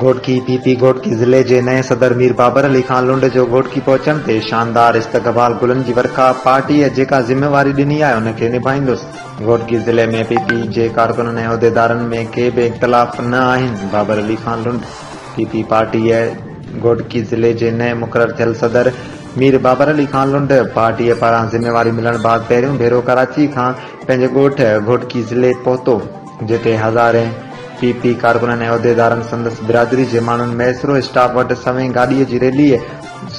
Ghotki, P P, Ghotki ضلعي جي نئين صدر مير بابر علي خان لنڊ جو گهوٽڪي پهچڻ تي شاندار استقبال گلن جي ورکا، پارٽيء جيڪا ذميواري ڏني آهي ان کي نڀائيندس، گهوٽڪي ضلعي ۾ پي پي جي ڪارڪنن ۽ عهديدارن ۾ ڪي به اختلاف نه آهن، بابر علي خان لنڊ. پي پي پارٽيء گهوٽڪي ضلعي جي نئين مقرر ٿيل صدر مير بابر علي خان لنڊ پارٽيء پاران ذميواري ملڻ بعد پهريون ڀيرو ڪراچيء کان پنهنجي ڳوٺ گهوٽڪي ضلعي پهتو، جتي هزارين پي پي ڪارڪنن ۽ عهديدارن سندس برادري جي ماڻهن ميسرو اسٽاپ وٽ سوين گاڏيء جي ريليء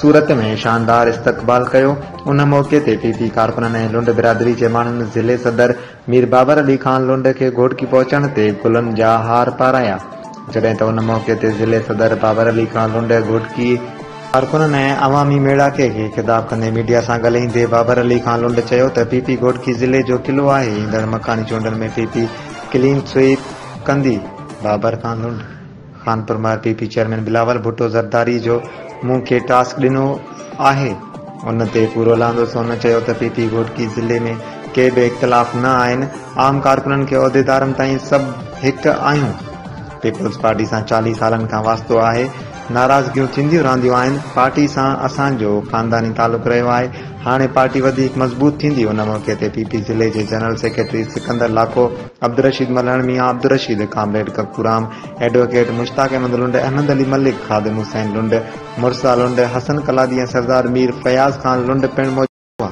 صورت ۾ شاندار استقبال ڪيو، ان موقعي تي پي پي ڪارڪنن ۽ لنڊ برادري جي ماڻهن ضلعي صدر. مير بابر علي خان لنڊ کي گهوٽڪي پهچڻ تي گلن جا هار پارايا، جڏهن ته ان موقعي تي ضلعي صدر بابر علي خان لنڊ گهوٽڪي، ڪارڪنن ۽ عوامي ميڙاڪي کي خطاب ڪندي ميڊيا سان ڳالهائيندي بابر علي خان لنڊ چيو ته پي پي گهوٽڪي ضلعي جو قلعو آهي، ايندڙ مڪاني چونڊن ۾ پي پي ڪلين سوئيپ ڪندي، بابر خان لنڊ. خانپور مان P P chairman Bilawal Bhutto Zardari جو مون کي ٽاسڪ ڏنو آهي ان تي پورو لاندس هن چيو ته پي پي گهوٽڪي ضلعي ۾ ڪي به اختلاف نه آهن عام ڪارڪنن کي عهديدارن تائين سڀ هڪ آهيون پيپلز پارٽي سان چاليهه سالن کان واسطو آهي ناراضگيون ٿينديون رهنديون آهن پارٽي سان اسان جو خانداني تعلق رهيو آهي هاڻي پارٽي وڌيڪ مضبوط ٿيندي ان موقعي تي پي پي ضلعي جي general secretary Sikandar Lakho Abdul Rasheed Malhan Mian Abdul Rasheed comrade Kakuram advocate Mushtaq Ahmed Lund, Ahmed Ali Malik, Khadim Hussain Lund, مرسا Lund, Hassan Qaladi ۽ Sardar Mir Fayaz Khan Lund پڻ موجود هئا.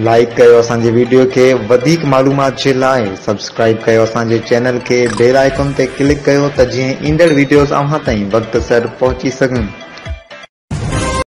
لائيڪ ڪيو اسان جي ويڊيو کي وڌيڪ معلومات جي لاء سبسڪرائيب ڪيو اسان جي چينل کي بيل آئيڪون تي ڪلڪ ڪيو ته جيئن ايندڙ ويڊيوز اوهان تائين وقت سر پهچي سگهن.